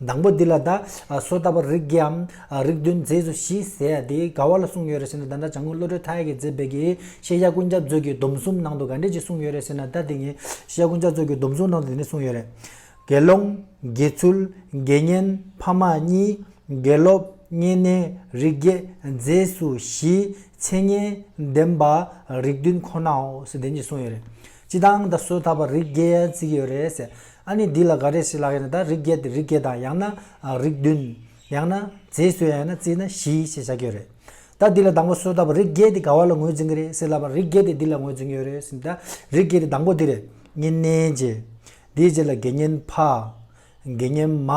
དང་པོ་འདི་ལ་བཟླ། སོ་བཏབ་པར་རིགས་བརྒྱའམ། རིགས་བདུན་རྫས་སུ་བཞི་ཟེར་ཡ་དེ་ག་བ་ལ་གསུངས་ཡོད་རེ་ཟེར་ན་བདག་འདྲ་བྱང་ཁུངས་བློ་གྲོས་མཐའ་ཡས་ཀྱི་མཛད་དཔལ་གྱི་ཤེས་བྱ་ཀུན་ཁྱབ་མཛོད་ཀྱི་སྡོམ་གསུམ་ནང་དུ་ག་འགྲེལ་གྱིས་གསུངས་ཡོད་རེ་ཟེར་ན་བདག་འདི་ཉིད་ཤེས་བྱ་ཀུན་ཁྱབ་མཛོད་ཀྱི་སྡོམ་གསུམ་ནང་དུ་འདི་ནི་གསུངས་ཡོད་རེད། དགེ་སློང། དགེ་ཚུལ། དགེ་བསྙེན། ཕ་མ་གཉིས། དགེ་སློབ། བསྙེན་གནས། རིགས་བརྒྱད། རྫས་སུ་བཞི། མཚན་སྙན། བདེན་པ། རིགས་བདུན་ཁོ་ནའོ་ཞེས་བདེན་གྱིས་གསུངས་ཡོད་རེད། སྤྱི་དང་ད་གཟོད་ད་བར་རིགས་བརྒྱད་བརྩིས་ཡོད་རེད་ཟེར། ཨ་ནི་འདི་ལ་ག་རེ་ཞིག་ལགས་ཡིན་ན་ད་རིགས་བརྒྱད་དེ་རིགས་བརྒྱད་དང་ཡང་ན་རིགས་བདུན། ཡང་ན་རྫས་སུ་ཡང་ཡང་ན་བརྩིས་ན་བཞི་ཞེས་བྱ་གྱི་རེད། ད་འདི་ལ་དང་པོ་གཟོད་ད་བར་རིགས་བརྒྱད་དེ་ག་བ་ལ་ངོས་འཛིན་གྱི་རེད་ཟེར་ལབ་པར་རིགས་བརྒྱད་དེ་འདི་ལ་ངོས་འཛིན་ཡོད་རེད་ཟེར་ན་ད་རིགས་བརྒྱད་དེ་དང་པོ་འདི་རེད། བསྙེན་གནས་རྗེས། དེའི་རྗེས་ལ་དགེ་བསྙེན་འཕགས། དགེ་བསྙེན་མ།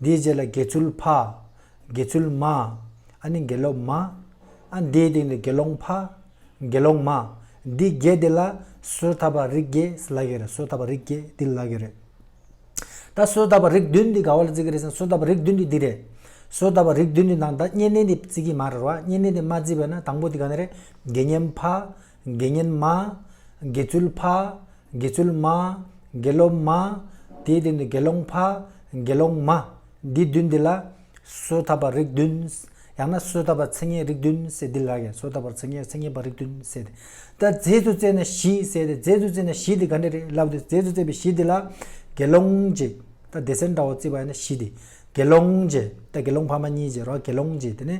དེའི་རྗེས་ལ་དགེ་ཚུལ་ཕ། དགེ་ཚུལ་མ། ཨ་ནི་དགེ་སློབ་མ། ཨ་དེའི་སྟེང་དུ་དགེ་སློང་ཕ། དགེ་སློང་མ། འདི་བརྒྱད་དེ་ལ་སོ་ཐར་པ་རིགས་བརྒྱད་ལག་གི་རེད་སོ་ཐར་པ་རིགས་བརྒྱད་འདི་ལག་གི་རེད། ད་སོ་ཐར་པ་རིགས་བདུན་འདི་ག་བ་ལ་བརྩི་གི་རེད་ཟེར་ན་སོ་ཐར་པ་རིགས་བདུན་འདི་འདི་རེད། སོ་ཐར་པ་རིགས་བདུན་འདི་ནང་ད་བསྙེན་གནས་འདི་བརྩི་གི་མ་རེད་བ་བསྙེན་གནས་འདི་མ་བརྩིས་པས་ན་དང་པོ་འདི་ག་ནས་རེད་དགེ་བསྙེན་ཕ། དགེ་བསྙེན་མ། དགེ་ཚུལ་ཕ། དགེ་ཚུལ་མ། དགེ་སློབ་མ། དེའི་སྟེང་དུ་དགེ་སློང་ཕ། དགེ་སློང་མ། འདི་བདུན་འདི་ལ། གསོལ་ཐབས་པ་རིགས་བདུན། ཡང་ན་གསོལ་ཐབས་པ་ཚིག་ངན་རིགས་བདུན་བསྲེ་འདི་ལགས་ཀྱང་གསོལ་ཐབས་པར་ཚིག་ངན་ཚིག་ངན་པ་རིགས་བདུན་བསྲེ་སྟེ། ད་རྫས་སུ་བཙས་ན་བཞི་བསྲེ་སྟེ་རྫས་སུ་བཙས་ན་བཞི་འདི་ག་འདྲ་རེད་ལབ་སྟེ་རྫས་སུ་བཙས་པའི་བཞི་འདི་ལ། དགེ་སློང་གཅིག། ད་སྡེ་སེར་འདྲ་བོ་བརྩིས་པ་ཡིན་ན་བཞི་འདི། དགེ་སློང་གཅིག། ད་དགེ་སློང་ཕ་མ་གཉིས་བཅས་རོགས་དགེ་སློང་གཅིག་དེ་ནས།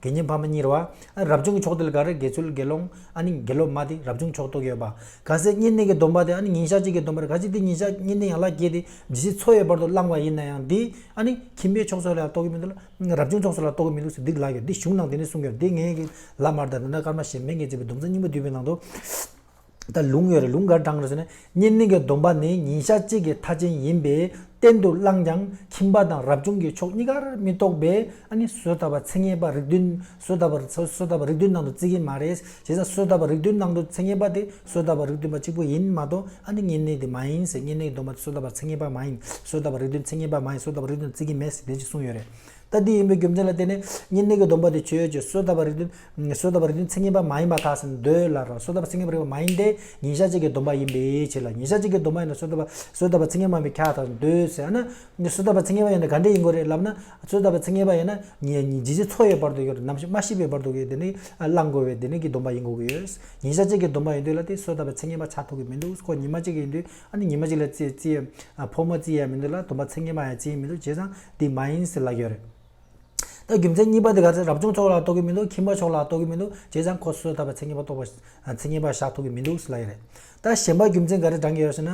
དགེ་བསྙེན་ཕ་མ་གཉིས་རུ་བ། རབ་བྱུང་གི་ཕྱོགས་དེ་ལ་ག་རེ་དགེ་ཚུལ་དགེ་སློང། ཨ་ནི་དགེ་སློབ་མ་དེ་རབ་བྱུང་ཕྱོགས་གཏོགས་ཡོད་པ། ག་ཟེ་བསྙེན་གནས་ཀྱི་སྡོམ་པ་དེ་ཨ་ནི་ཉིན་ཞག་གཅིག་གི་སྡོམ་པར་ག་ཅིག་དེ་ཉིན་ཞག་བསྙེན་གནས་ཡང་ལག་བརྒྱད་དེ་ཇི་སྲིད་འཚོ་བའི་བར་དུ་བླང་བ་ཡིན་ན་ཡང་དེ་ཨ་ནི་ཁྱིམ་པའི་ཕྱོགས་སོགས་ལ་ཡང་གཏོགས་ཀྱི་མི་འདུག་ལ། རབ་བྱུང་ཕྱོགས་སོགས་ལ་གཏོགས་ཀྱི་མི་འདུག་ཟེར་འདི་ལགས་ཀྱི་འདི་གཞུང་ནང་དེ་ནས་གསུངས་ཀྱི་རེད་དེ་ངས་ཀྱི་ལ་མར་དར་དེ་འདྲ་སྐར་མ་ཞེས་མེད་ངས་བྱས་པའི་སྡོམ་རྩ་སྙིང་པོ་བསྡུས་པའི་ནང་དུ། ད་ལུང་ཡོད་རེད་ལུང་གར་དྲངས་རེད་ཟེར་ནས་བསྙེན་གནས་ཀྱི་སྡོམ་པ་ནི་ཉིན་ཞག་གཅིག་གི་མཐའ་ཅན་ཡིན་པས་གཏན་དུ་བླངས་ཀྱང་ཁྱིམ་པ་དང་རབ་བྱུང་གི་ཕྱོགས་གཉིས་ཀར་མི་གཏོགས་པས་ཨ་ནི་བསོད་དར་བ་ཚེ་ངན་པ་རིགས་བདུན་བསོད་དར་བ་བསོད་དར་བ་རིགས་བདུན་ནང་དུ་བརྩི་གི་མ་རེད་བྱས་ཙང་བསོད་དར་བ་རིགས་བདུན་ནང་དུ་ཚེ་ངན་པ་དེ་བསོད་དར་བ་རིགས་བདུན་པ་གཅིག་པོ་ཡིན་མ་གཏོགས་ཨ་ནི་བསྙེན་གནས་དེ་མ་ཡིན་ཟེར་བསྙེན་གནས་ཀྱི་སྡོམ་པ་དེ་བསོད་དར་བ་ཚེ་ངན་པ་མ་ཡིན་བསོད་དར་བ་རིགས་བདུན་ཚེ་ངན་པ་མ་ཡིན་བསོད་དར་བ་རིགས་བདུན་བརྩི་གི་མེད་ཟེར་བདེན་ཅིག་གསུངས་ཡོད་རེད། ལྟ་དེ་ཡིན་པའི་རྒྱུ་མཚན་ལ་བརྟེན་ནས་ཉེ་གནས་ཀྱི་སྡོམ་པ་དེ་ཆོས་ཀྱི་གསོལ་བཏབ་པ་རིག་དུས་གསོལ་བཏབ་པ་རིག་དུས་མཚན་ཉིད་པ་མ་ཡིན་པ་དག་ཟིན་དུ་འདོད་ལ་རང་གསོལ་བཏབ་པ་མཚན་ཉིད་པ་རིག་པ་མ་ཡིན་ཏེ་ཉིན་ཞག་གཅིག་གི་སྡོམ་པ་ཡིན་པའི་ཕྱིར་ལ་ཉིན་ཞག་གཅིག་གི་སྡོམ་པ་ཡིན་ན་གསོལ་བཏབ་པ་གསོལ་བཏབ་པ་མཚན་ཉིད་མ་ཡིན་པའི་ཁྱད་དག་ཟིན་དུ་ཟེར་ན། གསོལ་བཏབ་པ་མཚན་ཉིད་པ་ཡིན་ན་ག་འདྲ་ཡིན་དགོས་རེད་ལབ་ན། གསོལ་བཏབ་པ་མཚན་ཉིད་པ་ཡིན་ན་ཇི་བཞིན་ཚོགས་ཡོད་བར་དུ་ཡོད་ནམ་མ་ཤི་བའི་བར་དུ་ཡོད་དེ་ནི་བླང་དགོས་པའི་དེ་ནས་ཀྱི་སྡོམ་པ་ཡིན་དགོས་ཀྱི་ཡོད། ཉིན་ཞག་གཅིག་གི་སྡོམ་པ་ཡིན་དུས་ལ་དེ་གསོལ་བཏབ་པའི་མཚན་ཉིད་པ་ཆགས་ཐུབ་ཀྱི་མི་འདུག་གོ་ཉིན་མ་གཅིག་གི་ཡིན་དུས། ཨ་ནི་ཉི་མ་གཅིག་ལ་ཙི་ཙི། ཕོ་མོ་ཙི་ཡང་མི་འདུག་ལ་དུམ་པ་ཚེ་ངན་པ་ཡང་ཅིའི་མི་འདུག་བྱས་ཙང་འདི་མ་ཡིན་ཟེར་ལ་ཡོད་རེད། ད་རྒྱུ་མཚན་གཉིས་པ་འདི་ག་ཚེ་རབ་བྱུང་མཆོག་ལ་གཏོགས་ཀྱི་མི་འདུག་ཁྱིམ་པ་མཆོག་ལ་གཏོགས་ཀྱི་མི་འདུག་བྱས་ཙང་ཁོ་སོ་སོའི་ད་བར་ཚེ་ངན་པ་གཏོགས་པ་ཚེ་ངན་པ་བཞག་ཐུབ་ཀྱི་མི་འདུག་ཟེར་ལ་ཡོད་རེད། ད་གཞན་པ་རྒྱུ་མཚན་ག་རེ་བགྲང་གི་ཡོད་ཟེར་ན།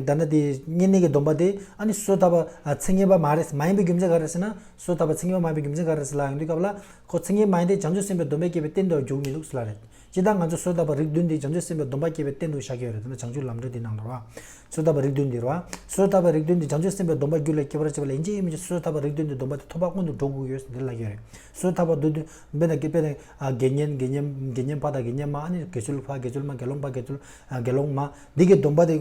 ད་ནི་དེ་གཉིས་གནས་ཀྱི་སྡོམ་པ་དེ་ཨ་ནི་སོའི་ད་བར་ཚེ་ངན་པ་མ་རེད་མ་ཡིན་པའི་རྒྱུ་མཚན་ག་རེ་ཟེར་ན། སོའི་ད་བར་ཚེ་ངན་པ་མ་ཡིན་པའི་རྒྱུ་མཚན་ག་རེ་ཟེར་ལ་ཡོང་དུས་སྐབས་ལ་ཁོ་ཚེ་ངན་མ་ཡིན་ཏེ་བྱང་ཆུབ་སེམས་དཔའི་སྡོམ་པས་བསྐྱེད་པའི་རྟེན་དུ་འགྱུར་མི་འདུག་ཟེར་ལ་ཡོད། སྤྱིར་བཏང་ང་ཚོས་གསོལ་བཏབ་པ་རིགས་བདུན་འདི་བྱང་ཆུབ་སེམས་དཔའི་སྡོམ་པ་སྐྱེས་པའི་རྟེན་དུ་བཞག་གི་ཡོད་རེད་དེ་ན་བྱང་ཆུབ་ལམ་འབྲས་འདི་ནང་ལོ། གསོལ་བཏབ་པ་རིགས་བདུན་འདི་རོ། གསོལ་བཏབ་པའི་རིགས་བདུན་འདི་བྱང་ཆུབ་སེམས་དཔའི་སྡོམ་པ་རྒྱུད་ལ་སྐྱེ་བར་བྱེད་པ་ལ་ཡན་ཆད་ཡོད་མི་ཆོག་གསོལ་བཏབ་པ་རིགས་བདུན་འདི་སྡོམ་པ་དེ་ཐོབ་པ་སྔོན་དུ་འགྲོ་དགོས་ཡོད་འདི་ལ་ཡོད་རེད། གསོལ་བཏབ་པ་བདུན་བདུན་དཔེ་དང་དགེ་བསྙེན་དགེ་བསྙེན་དགེ་བསྙེན་ཕ་དང་དགེ་བསྙེན་མ་ཨ་ནི་དགེ་ཆོས་ལུགས་ཕ་དགེ་ཆོས་ལུགས་མ་དགེ་སློང་ཕ་དགེ་ཆོས་ལུགས་དགེ་སློང་མ་འདི་གའི་སྡོམ་པ་དེ་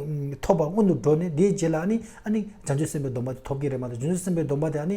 ཐོབ་པ་སྔོན་དུ་འགྲོ་ནས་དེའི་རྗེས་ལ་ཨ་ནི་ཨ་ནི་བྱང་ཆུབ་སེམས་དཔའི་སྡོམ་པ་དེ་ཐོབ་ཀྱི་རེད་མ་གཏོགས་བྱང་ཆུབ་སེམས་དཔའི་སྡོམ་པ་དེ་ཨ་ནི།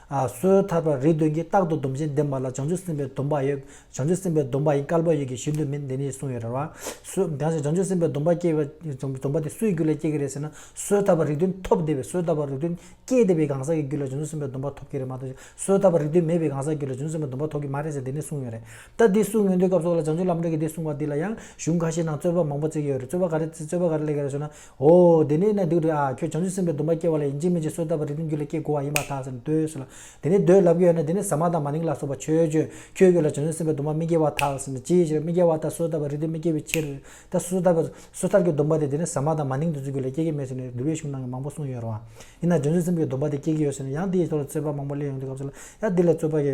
སོའི་ཐར་པར་རིགས་བདུན་གྱིས་རྟག་ཏུ་སྡོམ་ཅན་འདེབས་མ་ལ་བྱང་ཆུབ་སེམས་དཔའི་སྡོམ་པ་ཡོད། བྱང་ཆུབ་སེམས་དཔའི་སྡོམ་པ་ཡིན་སྐལ་པ་ཡོད་ཀྱི་གཞི་མདོ་མིན་འདི་ནས་གསུངས་ཡོད་རེད་བ། སོའི། དེང་སང་བྱང་ཆུབ་སེམས་དཔའི་སྡོམ་པ་སྐྱེ་བའི། སྡོམ་པ་དེ་སུའི་རྒྱུ་ལས་སྐྱེ་གི་རེད་ཟེར་ན། སོའི་ཐར་པར་རིགས་བདུན་ཐོབ་བདེ་བས་སོའི་ཐར་པར་རིགས་བདུན་སྐྱེ་བདེ་བའི་གང་ཟག་གི་རྒྱུ་ལས་བྱང་ཆུབ་སེམས་དཔའི་སྡོམ་པ་ཐོབ་ཀྱི་རེད་མ་གཏོགས། སོའི་ཐར་པར་རིགས་བདུན་མེད་པའི་གང་ཟག་རྒྱུ་ལས་བྱང་ཆུབ་སེམས་དཔའི་སྡོམ་པ་ཐོབ་ཀྱི་མ་རེད་ཟེར་འདི་ནས་གསུངས་ཡོད་རེད། ད་འདི་གསུངས་ཡོད་འདོད་སྐབས་སོགས་ལ་བྱང་ཆུབ་ལམ་འབྲས་ཀྱི་འདི་གསུངས་པ་འདི་ལ་ཡང་གཞུང་ཁ་ཤས་ནང་རྩོད་པ་མང་པོ་བརྩེགས་ཡོད་རེད་རྩོད་པ་ག་རེ་རྩོད་པ་ག་རེ་སླེབས་ཀྱི་རེད་ཟེར་ན། ཧོ། དེ་ནས་ན་བདུད་དེ་ཨ་ཁྱོད་བྱང་ཆུབ་སེམས་དཔའི་སྡོམ་པ་སྐྱེ་བ་ལ་ཡིད་འཇིགས་མེད་ཀྱི་སོ་བཏབ་པ་རིགས་ཀྱི་རྒྱུད་ལ་སྐྱེ་དགོས་བ་ཡིན་པར་ཐགས་ཟིན་ནས་ལྟོས་སོ་ལ། དེ་ནས་བདུད་ལབ་ཀྱི་ཡོད་ན་དེ་ནས་ཟ་མ་དང་མ་ནིང་ལ་སོགས་པ་ཆོས་སྤྱོད་ཁྱོད་རྒྱུད་ལ་བྱང་ཆུབ་སེམས་དཔའི་སྡོམ་པ་མི་སྐྱེ་བར་ཐགས་ཟིན་ནས་ཅིའི་ཕྱིར་མི་སྐྱེ་བ་ལྟར་སོ་བཏབ་པ་རིགས་དེ་མི་སྐྱེ་བའི་ཕྱིར། ད་སོ་ཐར་པའི། སོ་ཐར་གྱི་སྡོམ་པ་དེ་དེ་ནས་ཟ་མ་དང་མ་ནིང་དེ་ཚོའི་རྒྱུད་ལ་སྐྱེ་གི་མེད་ཟེར་ནས་བསྡུ་བའི་གཞུང་ནང་གི་མང་པོ་གསུངས་ཡོད་རུང། ཡིན་ནའང་བྱང་ཆུབ་སེམས་དཔའི་སྡོམ་པ་དེ་སྐྱེ་གི་ཡོད་ཟེར་ནས་ཡང་དེའི་ཐོག་ལ་རྩོད་པ་མང་པོ་གླེང་ཡོང་དུས་སྐབས་སུ་ལ་ཡང་དེ་ལས་རྩོད་པ་གྱི་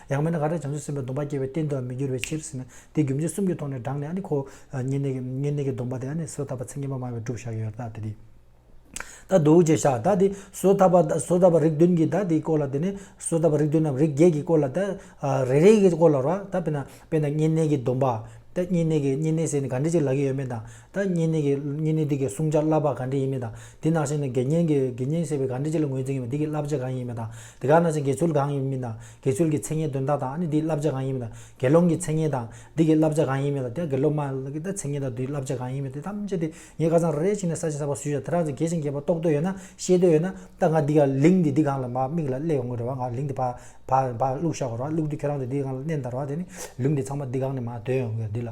ཡང་མིན་ན་ག་དེར་བྱང་ཆུབ་སེམས་དཔའི་སྡོམ་པ་སྐྱེ་བའི་རྟེན་དུའང་མི་འགྱུར་བའི་ཕྱིར་ཟེར་ན་དེ་རྒྱུ་མཚན་གསུམ་གྱི་ཐོག་ནས་བགྲངས་ནས་ཨ་ནི་ཁོ། བསྙེན་གནས་བསྙེན་གནས་ཀྱི་སྡོམ་པ་དེ་ཨ་ནི་བཟོད་ཐབས་པ་ཚེ་ངན་པ་སྨྲ་བས་བསྒྲུབ་བྱ་ཡོད་ད་དེ་དེ། ད་དུ་ཅེས་བྱ་བདག་དེ་བཟོད་ཐབས་པ་བཟོད་ཐབས་པ་རིགས་བདུན་གྱིས་བདག་དེའི་སྐོར་ལ་དེ་ནས་བཟོད་ཐབས་པ་རིགས་བདུན་ནམ་རིགས་བརྒྱད་ཀྱིས་སྐོར་ལ་ད་རེ་རེའི་སྐོར་ལ་རོ། ད་དཔེར་ན་བསྙེན་གནས་ཀྱི་སྡོམ་པ། ད་བསྙེན་གནས་ཀྱི་བསྙེན་གནས་ཟེར་ནས་ག་འདྲི་ཅིག་ལག་གི་ཡོད་མེད་དང། ད་བསྙེན་གནས་ཀྱི་བསྙེན་གནས་འདི་གའི་བསྲུང་བྱ་བསླབ་པ་ག་འདྲི་ཡིན་མིན་དང་དེ་ནང་བཞིན་ནི་དགེ་བསྙེན་གྱི་དགེ་བསྙེན་ཟེར་བའི་ག་འདྲི་ཅི་ལ་ངོས་འཛིན་ཡིན་མིན་འདི་གའི་བསླབ་བྱ་གང་ཡིན་མིན་དང་དེ་ག་ནང་བཞིན་དགེ་ཚུལ་གང་ཡིན་མིན་དང་དགེ་ཚུལ་གྱི་མཚན་སྙན་དོན་དག་དང་ནི་དེའི་བསླབ་བྱ་གང་ཡིན་མིན་དང་དགེ་སློང་གི་མཚན་སྙན་དང་འདི་གའི་བསླབ་བྱ་གང་ཡིན་མིན་དང་དེ་དགེ་སློབ་མ་གི་ད་མཚན་སྙན་དང་དུའི་བསླབ་བྱ་གང་ཡིན་མིན་དེ་ཐམས་ཅད་དེ་ངས་ཁ་ཚང་རེ་ཞིག་ནས་ས་བྱི་ས་པ་སུས་ཀྱང་དེ་རང་ཚོ་གལ་ཆེན་གལ་པོ་རྟོགས་འདོད་ཡོད་ན་ཤེས་འདོད་ཡོད་ན་ད་ང་འདི་ག་ལིང་འདི་འདི་གང་ལ་མ་མིག་ལ་གླས་ཡོང་གི་རེད་བ་ང་ལིང་འདི་བག་བག་བག་བླུགས་ཤ་བར་བ་བླུགས་དུས་ཁྱེད་རང་ཚོ་འདི་གང་ལ་གནས་འདར་བ་དེ་ནི་ལིང་འདི་ཚང་མ་འདི་གང་ནས་མ་དོན་ཡོང་གི་རེད་འདི་ལ།